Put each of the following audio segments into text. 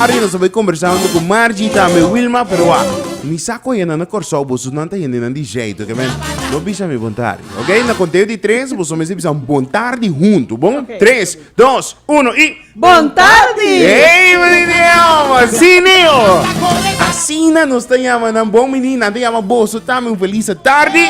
Ari nos a bai kombersando ku Margie i tambe Wilma, pero wa, mi sa kon yana na Kòrsou, boso nan ta hendenan di jeito, oke men? No bisa mi bon tardi, oke? Na konteo di tres boso mester bisanan bon tardi huntu, bon? Tres, dos, uno i. Bon tardi! Hey, William! Así niño! Asina nos ta llama nan bon menina, nan ta llama boso tambe un feliz tarde.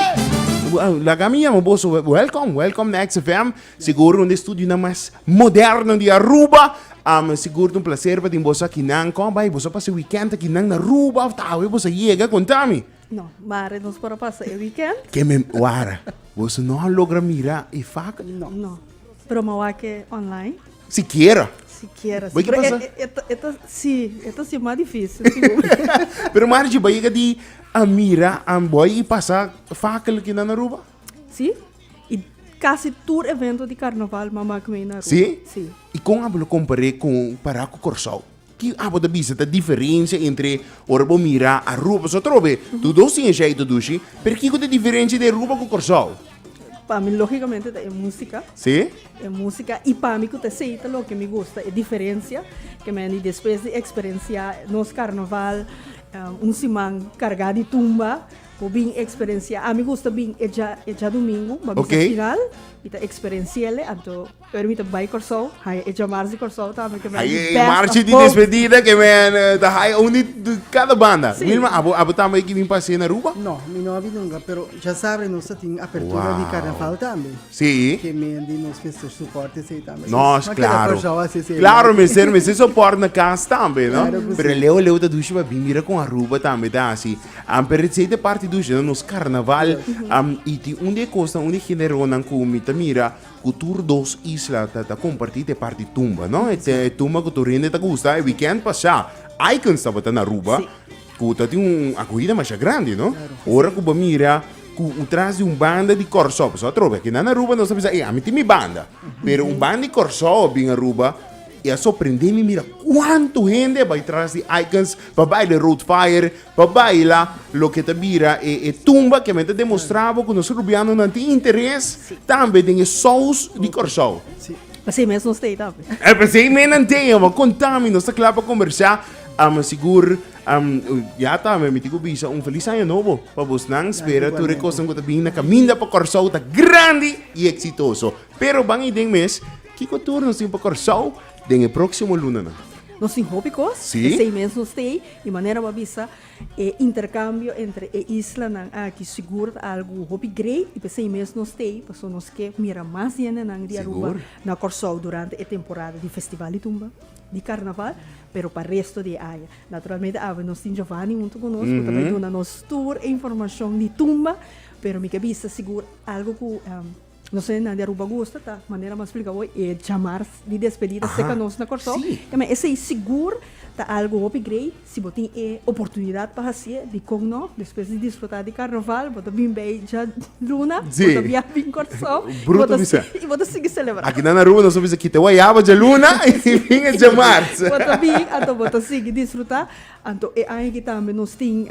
Laga mi llama boso welcome, welcome na XFM. Sigur un di estudionan mas moderno di Aruba. Um, sigur un placer pa tin boso akinan. Kon bai boso pasa e weekend akinan na Aruba of ta awe boso yega? Kontami. No, mare nos por a pasa e weekend. Ke me wara, boso no a logra mira e fak? No. No. Pero ma wake online. Sikiera. Sikiera. Bai ke Pero pasa? e- e- eta- eta- si, eta si mas difícil. si bo- Pero Margie, bai yega di a mira, um, bai i pasa fak el akinan na Aruba? Si, Y casi tur evento di carnaval mama a cuminda Aruba. Sí? Sí. Y con abo lo comparé con para cu Curaçao? Ki abo ta bisa ta diferencia entre ora bo mira Aruba, paso atrobe tu dos tin eshe tu dushi, pero kico ta diferencia di Aruba cu Curaçao? Pa mi logicamente ta e musica. Sí? E musica y pa mi cu ta esey ta loke mi gusta, e diferencia que men di despues di experencia nos carnaval un siman carga di tumba, Bo bin experencia, ami gusta bin e dja e djadomingo, ma mi sa final, mi ta experenciele, anto ora mi ta bai Corsou, haya e dja marchi Corsou ta ami ke men di best Marchi di despedida ke men ta haya un di cada banda. Sí. Wilma, abo abo tambe ki bin pasé na Aruba? No, mi no a bin nunca, pero dja sabe nos ta tin apertura di carnaval tambe. Sí. Ke men di nos mester support esei tambe. Nos, Nos, no a keda claro. Corsou a sese. Claro, mester mester support na cas tambe, no? Claro ku si. Pero leu leu ta dushi pa bin mira kon Aruba tambe ta hasi. Am pero it sei de parti dushi na nos carnaval am y tin un de cosnan un de generonan cu mi ta mira cu tur dos isla ta ta comparti te parti tumba no e te tumba cu tur hende ta gusta e weekend pasha Icons tabata na Aruba Sí. cu ta tin un acogida masha grandi no ora cu bo mira cu u tras di un banda di Corsou pasobra atrobe aki nan Aruba nos ta bisa ey ami tin mi banda pero un banda di Corsou a bin Aruba I a sorprende mi mira cuanto hende bai tras di Aikens pa bai de Rood Fire, pa baila loke ta bira e e tumba ke men ta demostra bo ku nos Rubianonan tin interes tambe den e sous di Kòrsou. Pasei mes nos tei tambe. E pasei mes nan tei e bo konta mi nos ta kla pa kombersá am sigur am ya ta mi miti ku bisa un felis aña nobo pa bosnan spera tur e kosnan ku ta bini na kaminda pa Kòrsou ta grandi i eksitoso pero ban i den mes Kiko tur nos tin pa Kòrsou den e próksimo lunanan? Nos tin hopi kos, p'esei mes nos ta ei, di manera bo a bisa, e interkambio entre e islanan aki sigur ta algu hopi grei, i p'esei mes nos ta ei, pasobra nos ke mira mas yendenan di Aruba na Kòrsou durante e temporada di Festival di Tumba, di Karnaval, pero pa resto di e aña. Naturalmente awe nos tin Giovani huntu ku nos ku ta bai duna nos tur e informashon di Tumba, pero mi ke bisa sigur algu ku. No sé nan di Aruba gusta ta manera mas splica hoy e jamar di despedida seca nos na Corsou e esey sigur ta algo hopi grey si bo tin e oportunidad pa haci'e dicon no despues di disfruta di carnaval bo ta bin bay dja luna bo ta bia bin Corsou y bo ta sigui celebra aki nan Aruba nos ta bisa kita e wayaba dja luna y bin e dja mars bo ta bin anto bo ta sigui disfruta anto e aña aki tambe nos tin.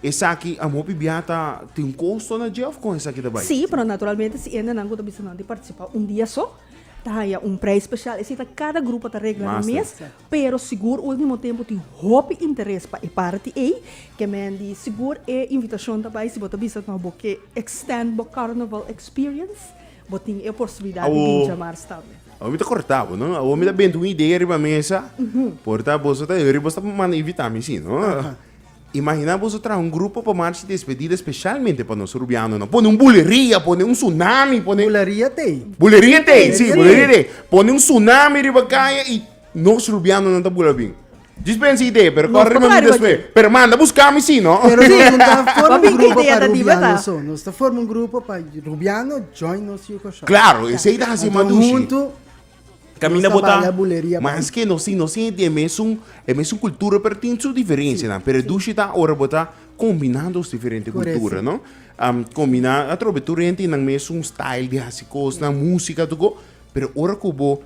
Esaki a hopi biaha ta tin un kosto na dje of kon esaki ta bai? Sí, pero naturalmente si hendenan ku ta bisa nan di partisipá un dia so, ta haña un preis spesial. Esei ta kada grupo ta regla nan mes, pero sigur último tempu tin hopi interes pa e parti ei. Ke men di sigur e invitashon ta bai si bo ta bisa nos bo ke extènd bo kàrnaval experience, bo tin e oportunidat di bin djamars tambe. Awor mi ta kortá bo, no. Awor mi ta benta un idea riba mesa, por ta boso ta hurry boso ta manda invitá mi, sí, no. Imaginá boso traha un grupo pa marchi despedida speshalmente pa nos rubianonan. Pone un buleria, pone un tsunami, pone. Buleria t'ei. Buleria t'ei, sí, buleria t'ei. Pone un tsunami riba kaya i nos rubianonan ta bula bin. Djis pensa idea, pero kòrda riba mi despues. Pero manda bus kami sí, no? Pero nos no ta forma un grupo pa rubiano so. Nos ta forma un grupo pa rubiano join nos yuko shòk. Claro, esei ta hasi madú shi. Caminda bota, ma es que nos tin, nos tin e mesun, e mesun cultura, pero tin su diferencianan. Pero e dushi ta ora bo ta combina dos diferente cultura, no? Um, combina, atrobe tur hente tinan mesun style di haci cosnan, musica, tu go, pero ora cu bo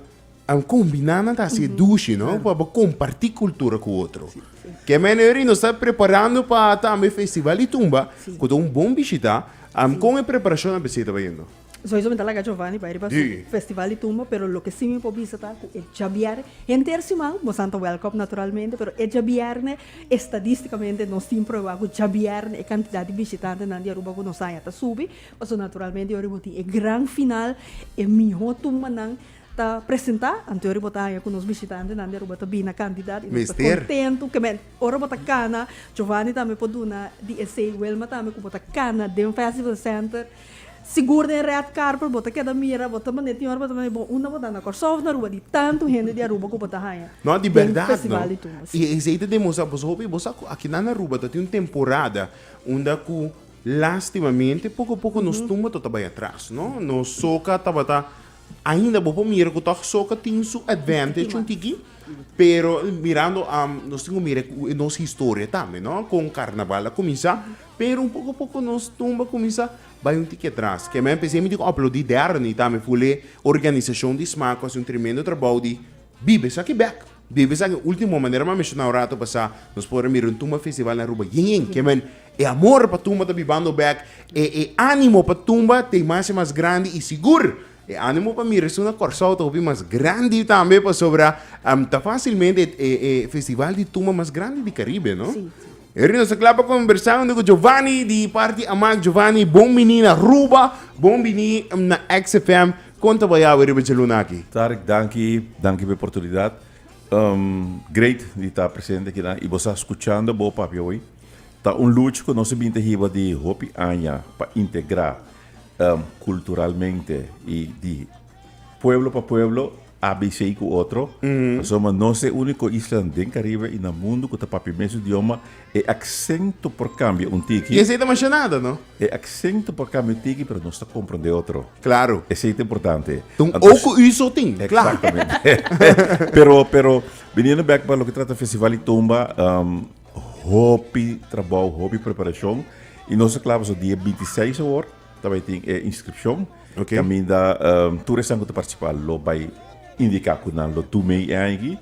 um, combina nan ta haci e dushi, no? Pa bo comparti cultura cu otro. Ke mene ori nos ta preparando pa tambe Festival di Tumba, cu ta un bon bishita. Um, con e preparacionnan besey ta bayendo? Sowieso mi ta laga Giovanni bai riba su festival di tumba, pero loke si mi por bisa ta ku e djabier, henter siman nos anto welkom naturalmente, pero e djabièrnè estadistikamente nos tin prueba ku djabièrnè e kantidat di bishitantenan di Aruba ku nos haña ta subi, pasobra naturalmente yori bo tin e gran final, e mihó tumbanan ta presentá, anto yori bo ta haña ku nos bishitantenan di Aruba ta bina kantidat i nos ta kontentu. Mester. Ora bo ta kana, Giovanni tambe por duna di esei, Wilma tambe, ku bo ta kana den fèstival senter. Sigur den red carpet bo ta keda mira bo ta mane tin ora bo ta mane bo unda bo ta na Kòrsou of na Aruba di tantu hende di Aruba ku bo ta haña No, di bèrdat no. den festival di tumbe si. I esei ta demostrá boso hopi. Bo sa ku aki nan na Aruba ta tin un temporada unda ku lastimamente poko poko nos tumba ta ta bai atras no. Nos soca tabata ainda bo por mira ku tòg soca tin su advantage un tiki pero mirando nos tin ku mira nos historia tambe no kon karnaval a kuminsá. Pero un poko poko nos tumba kuminsá bai un tiki atras. Kèmen a p'esei mi tin ku aplodí Dern i tambe Fulé, organisashon di sma ku hasi un tremendo trabou di biba esaki bèk, biba esaki último. Manera mi a menshoná un ratu pasá, nos por a mira un tumba festival na Aruba yen yen. Kèmen e amor pa tumba ta bibando bèk, e e ánimo pa tumba ta e mas i mas grandi i sigur e ánimo pa mira esun na Kòrsou ta hopi mas grandi tambe pasobra ta fásilmente e e festival di tumba mas grandi di Karibe, no? Heri nos ta kla pa kombersá huntu ku Jovani di parti Amak. Jovani, bon biní na Aruba, bon biní na XFM. Kon ta bayao e riba dje luna aki? Tarek, danki. Danki pa e portunidat. Great di ta presente akinan i bo sa skuchando bo, papia hoy. Ta un lucha ku nos a bin ta hiba di hopi aña pa integrá kulturalmente i di. Pueblo pa pueblo a bisei ku otro, pasobra ma nos e úniko islanan den Karibe i na mundu ku ta papia mes idioma, e aksento por kambia un tiki. I esei ta masha nada, no? E aksento por kambia un tiki, pero nos ta komprondé otro. Klaru. Esei ta importante. Ta un oko ui so tin, kla. Eksaktamente. Pero, pero, biniendo bèk pa loke trata Festival di Tumba, hopi trabou, hopi preparashon, i nos ta kla pasobra dia binti seis awor, Ta bai tin e inscripcion. Okay. Caminda um, tur esan cu ta participa lo bai indica cu nan lo tu mei e aña aquí.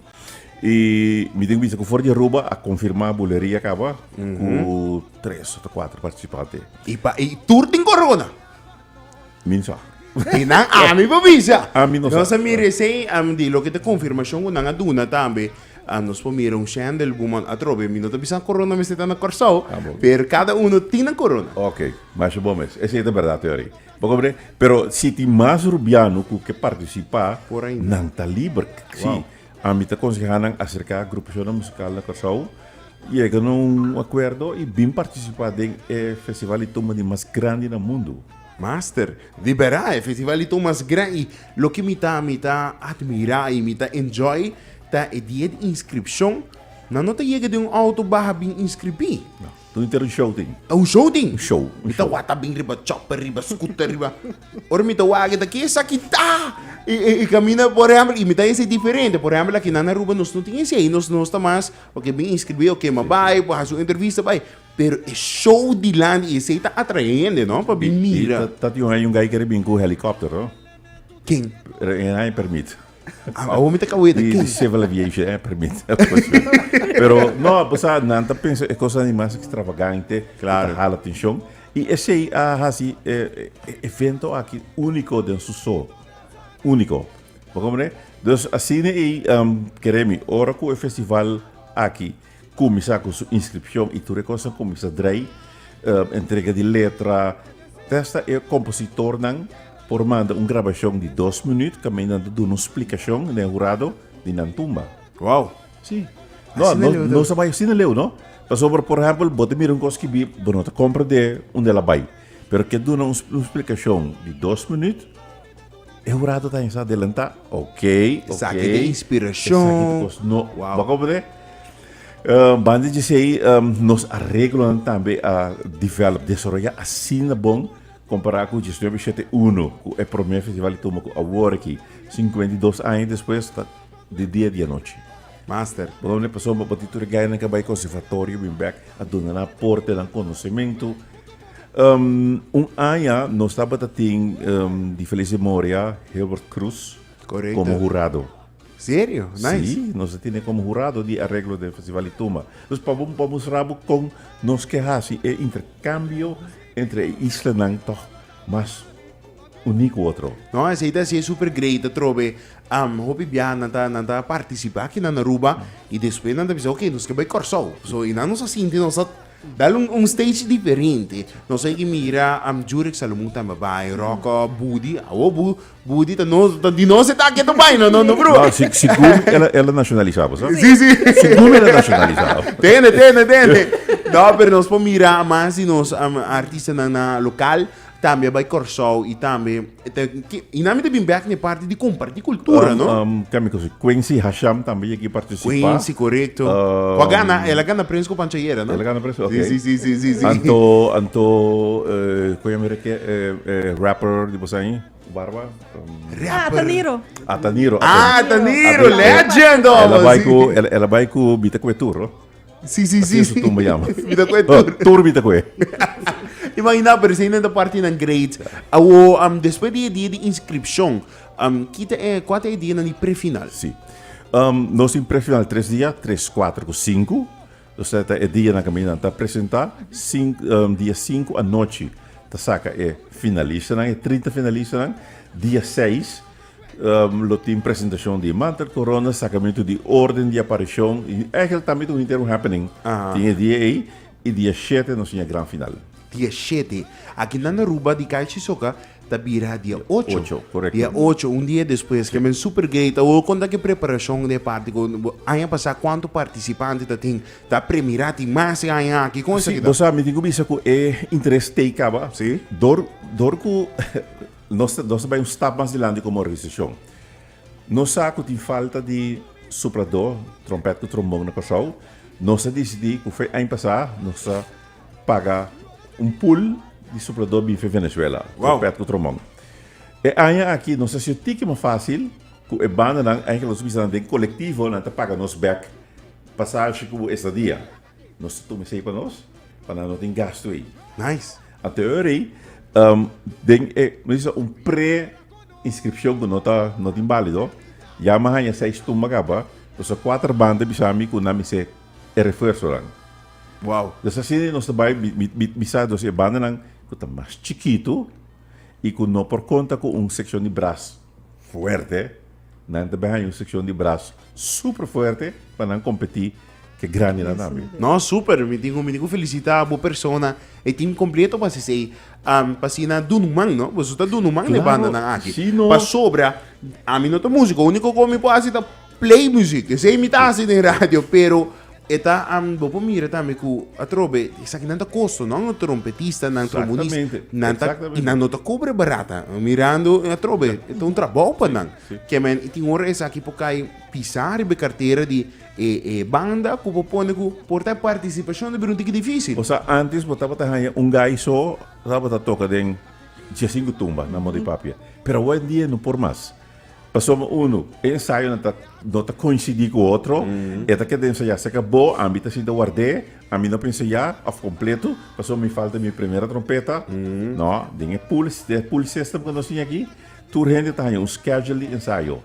Y mi tengo vista cu for de Aruba a confirma bulería acaba mm -hmm. cu tres o cuatro participantes. Y, pa, y tur tin corona. Minsa. Y nan a mi pa visa. A mi no sa. No sa mi recién a mi di lo que te confirmación cu nan a duna tambe. A nos por mira un shendel guman atrobe mi no ta bisa corona mester ta na Corsou per cada uno tin nan corona. Ok, masha bon mes. Esey ta berdad te ori. Bo comprende? Pero si tin mas rubiano cu ke participa nan ta liber. Si. Ami ta conseha nan acerca agrupacionnan musical na Corsou, yega na un acuerdo y bin participa den e festival y tumba di mas grandi na mundo. Master, libera e festivalito mas grei. Loke mi ta mi ta admira i mi ta enjoy ta e di e di inskripshon nan no ta yega den un outo baha bin inskribí. Lo inter un show tin. Un show tin. Un show. Mi ta wata bin riba chopper, riba scooter, riba. Ora mi ta wak e ta ke saki ta e e kaminda por ehempel i mi ta hesei diferente. Por ehempel aki nan Aruba nos no tin hesei. Nos nos ta mas oke bin inskribí oke ma bai, por hasi un entrevista bai. Pero e show dilanti i esei ta atraende no pa bin mira. Bi, ta tin un aña un guy kere bin ku helicoptero. Ken? E aña permit. Awor mi ta kawé ta ken? Di civil aviation, e aña permit. Pero no, bo sa, nan ta pensa e kosnan di mas extravagante ku ta hala atenshon. I esei a hasi e evento aki úniko den su sort. Úniko. Bo komprende? Dus asina ei, kere mi, ora ku e festival aki. Kuminsá ku su inskripshon i tur e kos a kuminsá drai, entrega di letra, ta esta e kompositornan por manda un grabashon di dos minüt kaminda nan ta duna un splikashon den hurado di nan tumba. Wow! Sí. No, Asina leu, no, no ta. sa bai asina leu, no. Pasobra, por ehèmpel, bo ta mira un kos kibí, bo no ta komprendé unda el a bai. Pero ke duna un splikashon di dos minüt. E hurato ta insá adelantá. Ok, ok. Esaki ta inspirashon. Esaki ta kos no. Wow. Bo kompren? Uh, banda dje sei, um, nos areglonan tambe a develop, desaroyá asina bon kompará ku Djesnuebe Shete Uno, ku e promé festival i tuma ku awor aki, sinkuenta i dos aña despues, ta di dia di anochi. Master. Bo kompren? Pasobra bo tin tur e gayanan ku a bai konservatorio, bin bèk, a duna nan aportenan, konosementu, Un aña nos tabata tin di Felice Moria, Hilbert Cruz como hurado. Serio? Nice. Sí, nos a tine como hurado di arreglo de Festival di Tumba. Dus pa bo, pa mostra bo con nos ke haci e intercambio entre e islanan toch mas uní cu otro. No, esei ta siña super great, ta trobe hopi biaha nan ta nan ta participa aki na Aruba y despues nan ta bisa ok, nos ke bai Corsou. So y nan nos a sinti nos ta Dal un un stage diferente. Nos a yegi mira am Jurek Salomon tambe bai, Rocko, Budi, awo Bu, Budi ta nos ta di nos etake ta bai no no broer. No, si si Gumi el a el a nacionalisa pues no. Si si. Si Gumi el a nacionalisa. Tende tende tende. No pero nos por mira mas di nos am artistanan local tambe a bai Corsou y tambe. E ta ki, i nami ta bin bek na e parti di comparti cultura, Um, no? um, tem ik gezegd, Quincy Hasham también aquí participa. Quincy, correcto. Um, Wa gana, ela gana prijs ku Pancha Yera, no? Ela gana prijs, oké. Si, si, si, si, si. Anto, anto, eh, kon yo mira ke, eh, eh, rapper di Bosain, Barba? Um, Ah, ta Niro. Ataniro. Ah, Taniro, legend, Ela oh, bai si. ku, ela, ela bai ku Bita Kuetur, no? Sí, sí, sí. Eso tumba yama. Mi ta kue tur. Tur mi ta kue. Imagina, pero si ta parti nan grade. Awo, um, después di dia di inscripción, um, kita e, cuata e dia nan di prefinal? Sí. Um, nos tin prefinal tres dia, tres, cuatro cu cinco. O sea, ta e dia nan kami nan ta presenta, cin, um, dia cinco anochi ta saca e finalista nan, e trinta finalista nan, dia seis, Lo tin presentashon di Manter Corona, sakamentu di orden di aparishon, i ègel tambe ta un henter un happening. Tin e dia ei, i dia shete nos tin e gran final. Dia shete, aki nan Aruba di Kai Shisoka ta bira dia ocho. Dia ocho, un dia despues. Ke men super gay ta wou konta ke preparashon den e parti ku aña pasá kuantu partisipante ta tin. Ta premirá tin mas den aña aki. Kon esaki ta? Si, bo sa mi tin ku bisa ku e interes tei kaba dor dor ku. Nos ta bai un stap mas dilanti komo organisashon. Nos sa ku tin falta di supladó, trompèt ku trombon na Kòrsou. Nos a disidí ku fai aña pasá nos ta paga un pul di supladó binfe Venezuela, trompèt ku trombon. E aña aki nos a sido tiki mas fásil ku e bandanan, aña ke nos bisa nan den kolektivo, nan ta paga nos bèk pasashi ku estadia. Nos ta tuma esei pa nos, pa nan no tin gastu ei. Nice. Anterior ei, um, den e, no dice, un pre-inscripcion cu no ta, no tin balido, ya me haya seis tumba caba, dus a cuater banda bisa mi cu nan mi se e refuerzonan. Wow. Dus asina ei nos ta bai, mi, mi, mi, mi sa, dus e bandanan cu ta mas chikitu y cu no por conta cu un seccion di bras. fuerte, nan ta bai haña un sekshon di bras super fuerte pa nan kompetí ku e grandinan tambe. No, super, mi tin ku mi tin ku felisitá bo persona, e tim kompleto pa hasis ei, pa asina dunu man, no? Boso ta dunu man na e bandanan aki. Pasobra ami no ta músiko, úniko ku mi por hasi ta. Play muziek, esei mi ta hasi den radio, pero e ta, am, bo por mira tambe ku atrobe, esaki nan ta kosto, no? Un trompetista, nan trombonista, Exactamente, nan ta, exactamente. i nan no ta kobre barata, mirando atrobe, e ta un trabou pa nan. sí. Ke men, i tin ora esaki por kai pisá riba e kartera di e, e banda ku bo pone ku por ta e partisipashon ta bira un tiki difísil. O sea, antes bo tabata haya un guy so, tabata toca den 15 tumba, na Modi Papia. Pero awa en dia no por mas. Pasobra unu, e ensayonan ta, no ta koinsidí ku otro, e ta keda ensayá serka bo, ami ta sinta ward'é, ami no por ensayá, òf kompletu, pasobra mi falta mi primera trompeta. No, den e pool, e pool system ku nos tin aki, tur hende ta haña un schedule di ensayo.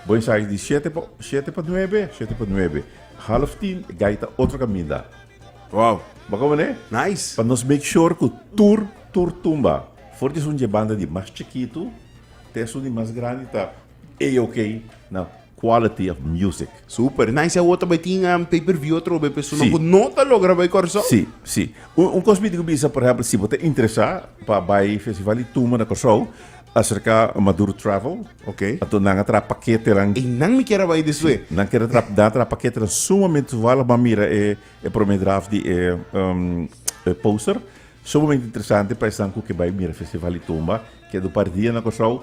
Bo ensaya di shete pa, shete pa nuebe, shete pa nuebe. Half tin, e guy ta otro kaminda. Wow! Bo a komprendé? Nice! Pa nos make sure ku tur, tur tumba. For di esun dje banda di mas chikitu. Tesu di mas grandi ta AOK na quality of music. Super nice. E otro bay tin um, pay per view otro bay persona sí. no ta logra bay Corsou. Sí, sí. Un, un cos mi digo bisa, por ejemplo, si bo te interesa pa bay festival di tumba na Corsou, acerca Maduro Travel. Ok. Ato nan atra paquete lan. E nan mi kera bay deswe. Sí. Nan kera tra, nan atra paquete lan sumamente toevallig ma mira e, e prome draft di e, um, e poster. Sumamente interesante pa esnan ku ke bay mira festival di tumba. Ke do par dia na Kòrsou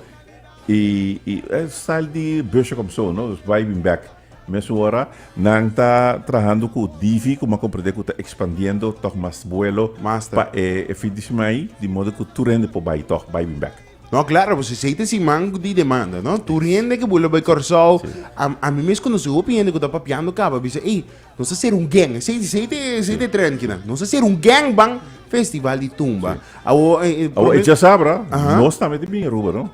i i e style di busje kòm so no dus bai bin bèk. Mesun ora nan ta trahando ku Divi kuma komprendé ku ta ekspandiendo tòg mas buelo pa e e fin di siman ei di modo ku tur hende por bai tòg bai bin bèk. No klaro pues esei ta siman di demanda no tur hende ke bula bai Kòrsou a mi mes konosé hopi hende ku ta papiando kaba bisa ei Nos a ser un gang, esei esei te esei te trend kinan. Nos a ser un gang ban festival di tumba. Awo eh, eh, Awo e chasabra, Aha. nos tambe te bin Aruba, no?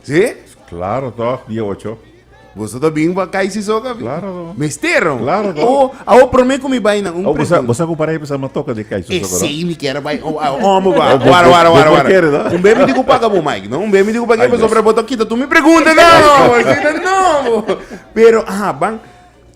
Sí? Claro toch, dia ocho. Boso ta bin pa kai si soka. Claro, no. Mestero. Claro, no. Awo, awo prome kumi bai nan un Awo bosa, pregunta. bosa compara e pesa ma toca de kai su soco, no? Esei mi kere bai. Oh, ah, oh, mo ba. Oh, bo- Wara, wara, bo- wara, bo- wara. kere, no? Un bemi di ku paga bo, Mike, no? Un bemi di ku paga Ay, bo, Dios. sobra bo to kita tu mi pregunta, no. Sina, no. Pero, aha, ban.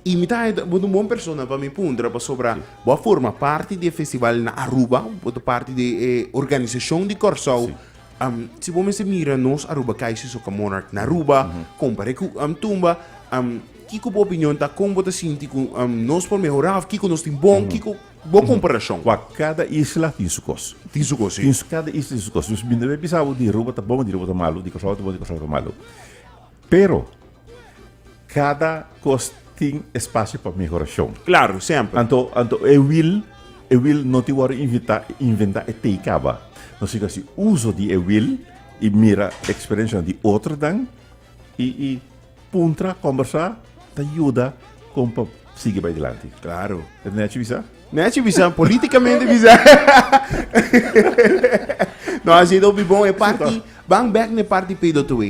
Y mi ta bo ta un bon persona pa mi puntra pasobra bo a forma parti di e festival na Aruba, bo ta parti di e organisacion di Corsou. Am, si bo mester mira nos Aruba KIC Soca Monarch na Aruba, comparé cu am Tumba, am, kico bo opinion ta? Con bo ta sinti cu am, nos por mehora of kico nos tin bon? Kico bo comparacion? Wak, cada isla tin su cos. Tin su cos, si. Tin su, cada isla tin su cos. Nos bind'e bisa bo di Aruba ta bon, di Aruba ta malu, di Corsou ta bon, di Corsou ta malu. Pero, kada kos tin espasio pa mehorashon. Klaru, semper. Anto, anto e wil, e wil no tin wòrdu invita, inventá e tei kaba. No si ku hasi uso di e wil i mira eksperensianan di otronan i i puntra, kòmbersá ta yuda kon pa sigui bai dilanti. Klaru. E nèchi bisa? Nèchi bisa, polítikamente bisa. No, hasi ta hopi bon. E parti, bang bèk na e parti P2A.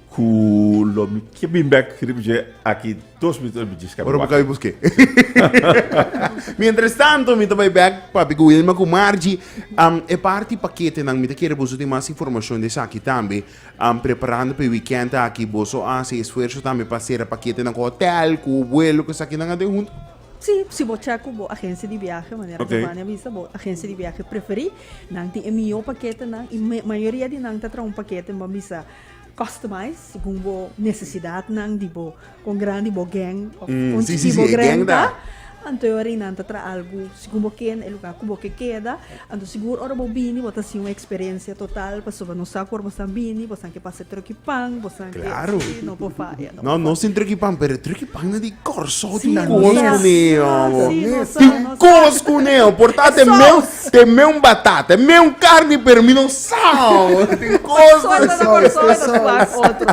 Cu lo mi kie bin bek riba dje aki dos minuto el biji scabi Ora bo cabi busqué. Mientras tanto, mi ta bai back papi cu Wilma cu Margie. Um, e party paketenan, mi ta kere boso tin mas informacion di esaki tambe. Um, preparando pe weekend aki, boso a haci esfuerzo tambe pa cera paketenan cu hotel, cu vuelo, cu esaki nan a den hunto? Sí, si bo check cu bo agencia di viaje, manera okay. Giovanni a bisa, bo agencia di viaje preferí, nan tin e mihó paketenan y mayoría di nan ta traha un pakete, mi a bisa, Customize segun bo necesidadnan di bo congran di bo gang of con chi di bo greng ta anto ora y nan ta traha algo segun bo kenda e lugar cu bo ke keda anto sigur ora bo bini bo ta haci un experiencia total pasobra nos sa cu ora bosnan bini bosnan ke pasa e truki pan bosnan ke si no por faya no por faya. No sin truki pan pero e truki pan nan di Corso tin cos cuneo tin cos cuneo por ta te meu Te meun batata, meun carni pero mi no sao. Tin cosa ta sao y tin cosa ta sao otro.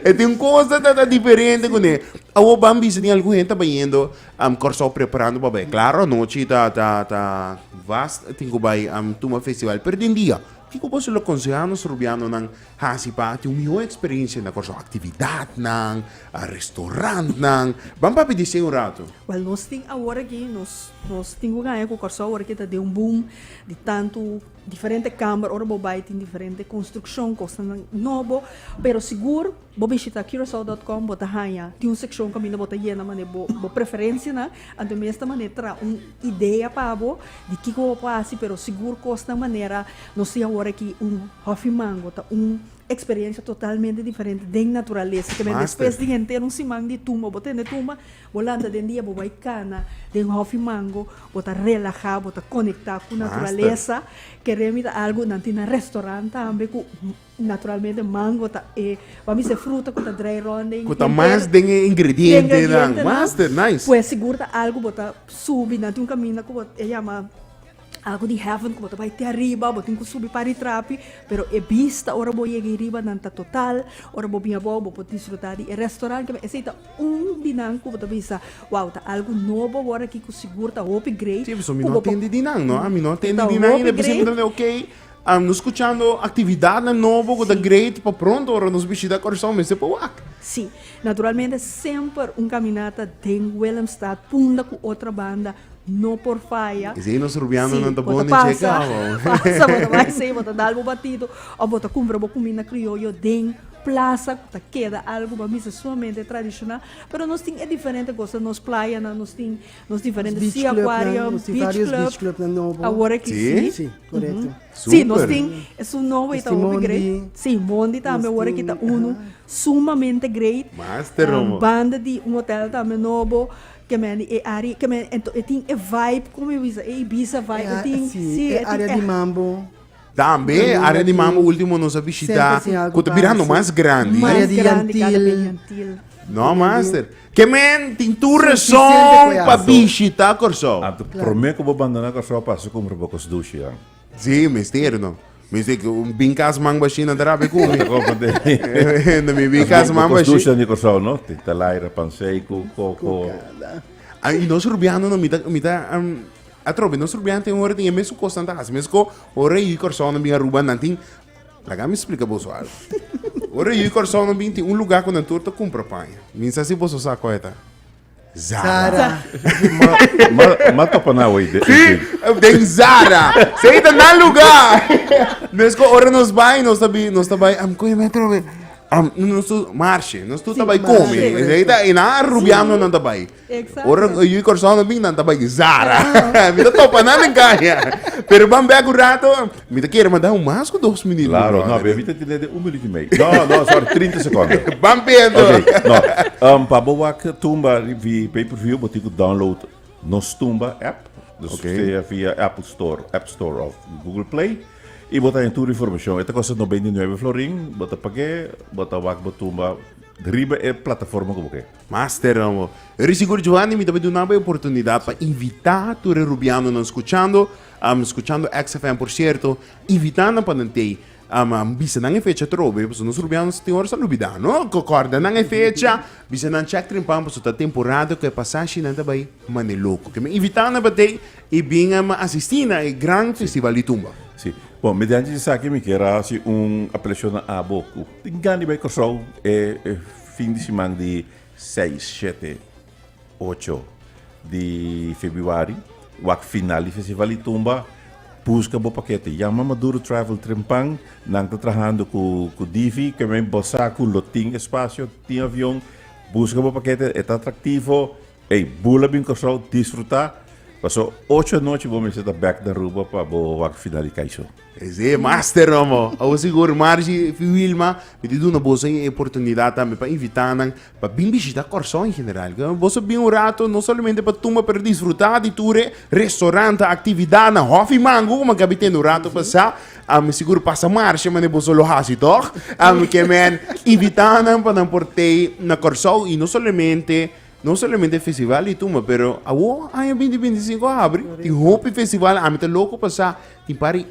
E tin cosa ta ta diferente con e. Awo ban bisa tin algun hende ta bayendo um Corsou preparando pa bay. Claro anochi ta ta ta vast tin cu bay um tuma festival pero den dia kico boso lo aconseha nos Robianonan. Hasi pa tin un mihó eksperensia na Kòrsou, aktividatnan, restorantnan. Ban papia di esei un ratu. Wèl, nos tin awor aki, nos nos tin ku kaña ku Kòrsou awor ke ta den un boom di tantu diferente kamber. Ora bo bai tin diferente konstrukshon, kosnan nobo. Pero sigur bo bishita Curacao dot com bo ta haña, tin un sekshon kaminda bo ta yena manera bo bo preferensianan. Anto mester manera tra un idea pa bo di kico bo por haci, pero sigur cosnan manera nos tin awor aki un Huffy Mango ta un experiencia totalmente diferente den naturalesa, ta mester despues di henter un siman di tumba bo tende tumba bo lanta den dia bo bay cana den Huffy Mango bo ta relaha bo ta conecta cu naturalesa, kere mi ta algo nan tin nan restaurant tambe cu Naturalmente mango ta e bo a bisa fruta ku ta drai rònt den. Ku ta mas den e ingredientenan. Master, nice. Pues sigur ta algu bo ta subi nan tin un kaminda ku bo e yama algu di heaven ku bo ta bai te ariba bo tin ku subi pari trapi pero e bista ora bo yega ei riba nan ta total ora bo bin abou bo por disfrutá di e restoran kiba esei ta un di nan ku bo ta bisa wou ta algu nobo awor aki ku sigur ta hopi great ku bo por. Si mi no atendi di nan no a mi no atendi di nan i depòs mi ta wende ok. Am nos scuchando actividadnan nobo cu ta great pa pronto ora nos bishita Curaçao mester pa wak. Sí, naturalmente semper un caminata den Willemstad punda cu otra banda no por faya. Is ey nos Rubianonan ta bon den tje cabo. Pasa, bo ta bay sey, bo ta dal bo batito of bo ta cumpra bo cuminda crioyo den plaza cu ta keda algo pa mi ta sumamente tradicional pero nos tin e diferente cosa nos playanan nos tin. Nos diferente sea aquarium, beach club, awor aki si. Si, korekto. Si, nos tin, es un nobo y ta hopi great. Si, Mondi tambe awor aki ta unu sumamente great. Banda di un hotel tambe nobo, ke men di e área, ke men, e tin e vibe, como mi bisa, e Ibiza vibe, e tin, si, e tin. E área di mambo. Tambe área di Mambo último nos a bishitá ku ta birando mas grandi. Área di yantil. No master. Ke men tin tur rason pa bishitá Kòrsou. Anto promé ku bo bandoná Kòrsou a pasa kumer bo kos dushi an. Sí, mester no. Mester ku un bin kas mangba asina a ta rapia kumi. Ta kòrda den. Mester mi bin kas mangba ashi. Bo kos dushi an di Kòrsou no? Tin talaira, pansei ku koko. Ku kada. I nos rubiano no mi ta mi ta. Atrobe nos rubian tin ora tin e mesun cos nan ta haci mes co ora e yu y Corsou nan bin Aruba nan tin laga mi splica boso algo ora e yu y Corsou nan bin tin un luga cu nan tur ta cumpra paña mi sa si boso sa coe ta Zara ma topa nan awey den si den Zara si ey ta nan luga mes co ora nos bay nos ta bin nos ta bay am coe mi atrobe am nos tur marshe nos tur ta bay come ey ta y nan rubian no nan ta bay. Ora nan yu i Corsou nan bin nan ta bai di Zara. Mi ta topa nan den caña. Pero ban bek un rato, mi ta kere manda un mas cu dos minut, mi brother. Claro, no, pero mi ta tende den un minut i mei. No, no, sorry, trinta secondo. Ban pienso. Oké, no. Pa bo wak tumba ribi pay-per-view bo tin cu download nos tumba app. Dus Oké. sea via Apple Store, App Store of Google Play. I bo ta haña tur e informacion. E ta costa nos beinti nuebe florin. Bo ta pag'é, bo ta wak bo tumba riba e plataforma cu bo ke. Master amo. Ri sigur Giovanni mi ta bai dunaba e oportunidad pa invita tur e Rubianonan scuchando, am scuchando XFM por cierto, invita nan pa nan tei. Am am bisa nan e fecha atrobe, paso nos Rubianos tin ora sa lubida, no? Co corda nan e fecha, bisa nan check trimpan paso ta temporada cu e pasashi nan ta bai mane loco. Ke mi invita nan pa tei y bin am asisti na e gran festival di tumba. Si. Bon, mediante esaki mi ker a haci un apelacion na abo cu tin gana di bai Curaçao e Fin di siman di seis, shete, ocho di febuari, wak final di festival di tumba, buska bo pakete. Yama Maduro Travel Trempan, nan ta trahando ku Divi, kemey bo sa ku lo tin espasio, tin avion, buska bo pakete, e ta atraktivo, ey, bula bin Kòrsou, disfrutá, paso ocho anochi bo mester ta bèk na Aruba pa bo wak final di kai sou. Esei e master nan bo. Awo sigur Margie y Wilma mi ta duna boso e oportunidad tambe pa invita nan pa bin bishita Kòrsou en general. Ke boso bin un rato no solamente pa tuma pero disfruta di tur e restauranten, actividadnan, hof y mangu kuma Gaby tende un rato pa sa. Ami sigur pasa Marchi mane boso lo haci tog. Ami ke men invita nan pa nan por tei na Kòrsou y no solamente. No solamente festival di tumba, pero awor aña binti binti e sinku abri, tin hopi festival, ami ta loko pa sa, tin par di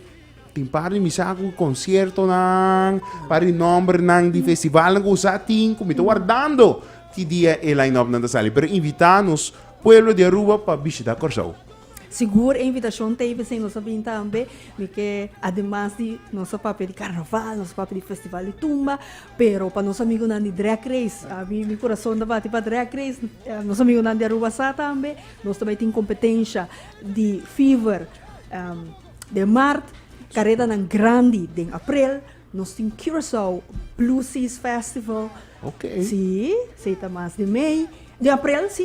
tin par di mi sa ku konsiertonan, par di nòmbernan di festivalnan ku sa tin, ku mi ta wardando ki dia e line-upnan ta sali, pero invitá nos pueblo di Aruba pa bishitá Kòrsou. Sigur e invitashon ta ebe, si nos a bin tambe, mi ke ademas di nos a papia di karnaval, nos a papia di festival di tumba, pero pa nos amigunan di drag race, a mi mi kurason ta bati pa drag race, nos amigunan di Aruba sa tambe, nos ta bai tin kompetensha di fever den mart, karetanan grandi den aprel, nos tin Curaçao Blue Seas Festival, si, si ta mas di mei, di aprel si.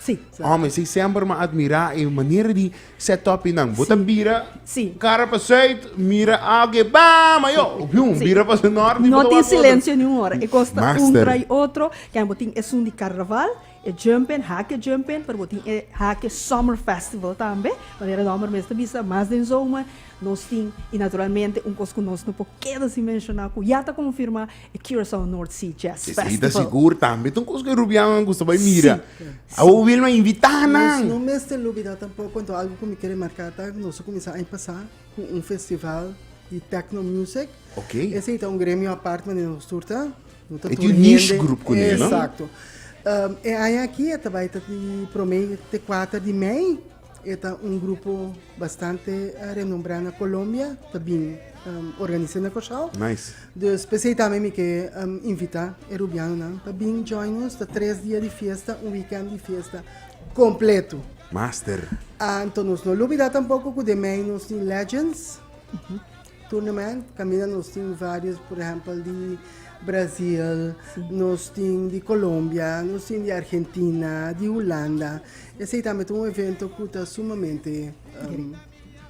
Sí. Ome, sí semper m'ha admirá e manera di sè tòpinan. Bo ta bira Sí. kara pa sùit, mira algu e bam ayo, bium, Sí. bira pa nòrti, bo No ta tin wak otro. silencio niun ora. E kos ta un Master. tra i otro. Ken bo tin esun di Carnaval, e Jumpin, Hake Jumpin, pero bo tin e Hake Summer Festival tambe. Manera e nòmber mes ta bisa, mas den zomer nos tin, i naturalmente un kos ku nos no por keda sin menshoná, ku ya ta konfirmá, E Curaçao North Sea Jazz Festival. Esei ta sigur tambe ta un kos ku e rubiannan gusta bai mira. Si. Awo Wilma a invitá nan. Nos no mester lubidá tampoko anto algu ku mi kere marká ta ku nos a kuminsá aña pasá ku un festival di tèkno music. Ok. Esei ta un gremio apart manera nos tur ta, no ta tur hende. E tin un niche grup kuné, no? Esakto. E aña akí a ta bai ta di promé te kuater di mei. E ta un grupo bastante renombrá na Colombia ta bin organis'é na Kòrsou. Nice. Dus p'esei tambe mi ke invitá e rubianonan pa bin join nos. Ta tres dia di fiesta, un wikènt di fiesta kompleto. Master. Anto nos no lubidá tampoko ku den mei nos tin Legends. Tournament caminda nos tin varios por ehempel di Brasil, nos tin di Colombia, nos tin di Argentina, di Hulanda. Esey tambe ta un evento cu ta sumamente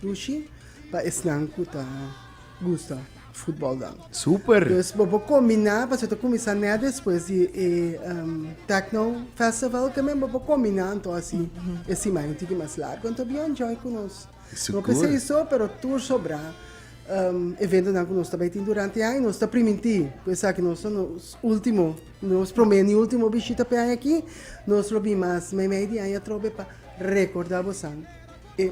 pushy pa esnan cu ta gusta futbol dan. Super! Dus bo por combina, pasobra ta cuminsa net despues di e Techno Festival, tambe bo por combina anto asi e siman un tiki mas largo. Anto a bin enjoy cu nos. Lo ke esei so, pero tur sobra eventonan ku nos ta bai tin durante e aña nos ta primintí ku esaki nos ta nos último, nos promé ni último bishita p'e aña akí. Nos lo bin mas meimei di aña atrobe pa rekordá bosan e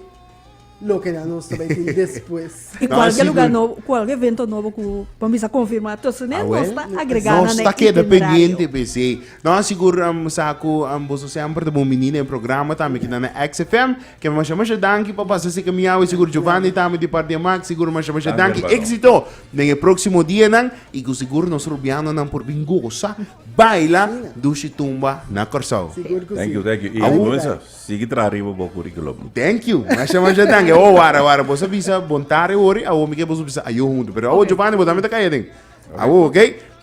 lokenan nos ta bai tin despues. I kual ke lugá nobo, kual ke evento nobo ku bon bisa konfirmá tushu ne nos ta agregá nan e itinerario. Nos ta keda pendiente p'esei. Nan a sigur sa ku boso semper ta bon biní den programa tambe kinan na XFM. Kemi masha masha danki pa pasa esei kamiao i sigur Giovanni ta ami di parti Max sigur masha masha danki exito den e proximo dianan i ku sigur nos Rubianonan por bin gosa baila dushi tumba na Corsou. Thank you thank you i Angunza sigui traha riba bo curriculum. Thank you masha masha danki awo wara wara boso bisa bon tarde wori awo mi ke boso bisa ayo huntu pero awo Giovanni bo ta ami ta kaya den awo ok.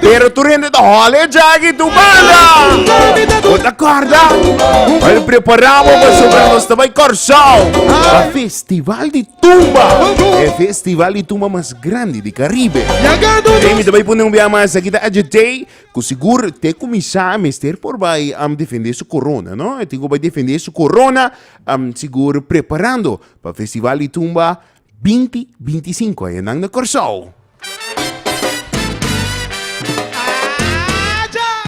Pero tur hende ta hòlè djaki tur banda Bo ta kòrda Bai prepará bo pasobra nos ta bai Kòrsou Pa festival di tumba E festival di tumba mas grandi di Karibe Ei mi ta bai pone un bia mas Aki ta Adje Tei Ku sigur te kuminsá a mester por bai defendé su korona no E tin ku bai defendé su korona Sigur preparando pa festival di tumba Binti binti sinku añanan na Kòrsou.